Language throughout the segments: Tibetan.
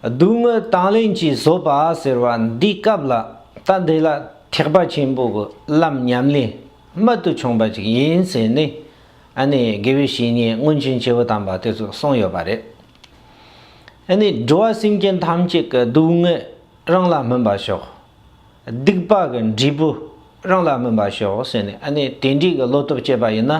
སྡུག་བསྔལ་དང་ལེན་གྱིས་བཟོད་པ་ཟེར་བ་འདིའི་སྐབས་ལ་ལྟ་འདི་ལ་ཐེག་པ་ཆེན་པོ་གི་ལམ་ཉམས་ལེན་རྨད་དུ་བྱུང་བ་ཅིག་ཡིན་ཟེར་ནས་ཨ་ནི་དགེ་བའི་བཤེས་གཉེན་སྔོན་བྱོན་བྱེ་བོ་དམ་པ་དེ་ཚོས་གསུངས་ཡོད་པ་རེད། ཨ་ནི་འགྲོ་བ་སེམས་ཅན་ཐམས་ཅད་ཀྱི་སྡུག་བསྔལ་རང་ལ་སྨིན་པར་ཤོག། སྡིག་པ་གི་འབྲས་བུ་རང་ལ་སྨིན་པར་ཤོག་ཟེར་ནས་ཨ་ནི་དེ་འདྲའི་གི་བློ་སྟོབས་བསྐྱེད་པ་ཡིན་ན།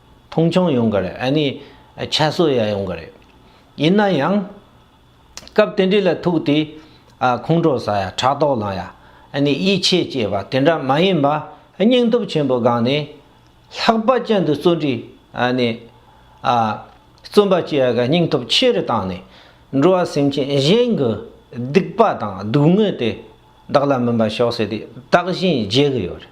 མཐོང་ཆུང་ཡོང་གི་རེད་ཨ་ནི། ཁྱད་གསོད་ཡ་ཡོང་གི་རེད། ཡིན་ན་ཡང། སྐབས་དེ་འདྲི་ལ་ཐུག་དུས། ཁོང་ཁྲོ་ཟ་ཡ་ཕྲག་དོག་ལང་ཡ། ཨ་ནི་ཡིད་ཆེས་སྐྱེས་པ་དེ་འདྲ་མ་ཡིན་པ། སྙིང་སྟོབས་ཆེན་པོ་སྒང་ནས། ལྷག་པ་ཅན་དུ་བརྩོན་འགྲུས། ཨ་ནི། བརྩོན་པ་སྐྱེ་ཡ་གི་སྙིང་སྟོབས་ཆེ་རུ་བཏང་ནས། འགྲོ་བ་སེམས་ཅན་གཞན་གྱི། སྡིག་པ་དང་སྡུག་བསྔལ་དེ། བདག་ལ་མིན་པ་ཤོག་ཟེར་དུས་བདག་བཞིན་བརྗེད་གི་ཡོད་རེད།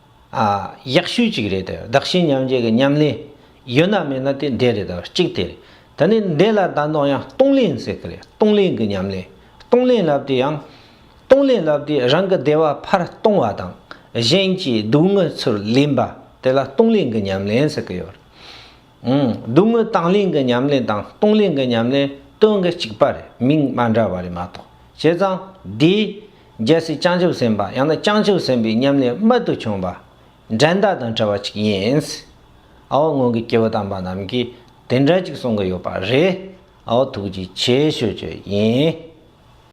ཡག་ཤོས་ཅིག་རེད་དེ། བདག་གཞན་མཉམ་བརྗེ་གི་མཉམ་ལས། ཡོད་ན་མེད་ན་དེ་འདས་རེད། གཅིག་དེ་རེད། ད་ནི་འདས་ལ་ད་ནོར་ཡང་སྟོང་ལེན་ཟེར་གི་རེད། སྟོང་ལེན་གི་མཉམ་ལས། སྟོང་ལེན་ལབ་དུས་ཡང། སྟོང་ལེན་ལབ་དུས་རང་གི་བདེ་བ་ཕར་གཏོང་བ་དང། གཞན་གྱི་སྡུག་དངོས་ཚུར་ལེན་པ། དེ་ལ་སྟོང་ལེན་གི་མཉམ་ལེན་ཟེར་གི་ཡོད་རེད། སྡུག་དངོས་དང་ལེན་གི་མཉམ་ལེན་དང་སྟོང་ལེན་གི་མཉམ་ལེན་དོན་གྱི་གཅིག་པ་རེད། མིང་མ་འདྲ་བ་རེད་མ་གཏོགས། བྱས་ཙང་འདིའི། རྒྱལ་སྲིད་བྱང་ཆུབ་སེམས་དཔའ་ཡང་ན་བྱང་ཆུབ་སེམས་དཔའི་ཉམས་ལེན་རྨད་དུ་བྱུང་བ། འགྲན་ཟླ་དང་བྲལ་བ་ཅིག་ཡིན། ཨའོ་སྔོན་གྱི་སྐྱེ་བོ་དམ་པ་རྣམས་ཀྱིས་དེ་འདྲ་ཅིག་གསུང་གི་ཡོད་པ་རེད། ཨའོ་ཐུགས་རྗེ་ཆེ་ཞུ་རྒྱུ་ཡིན།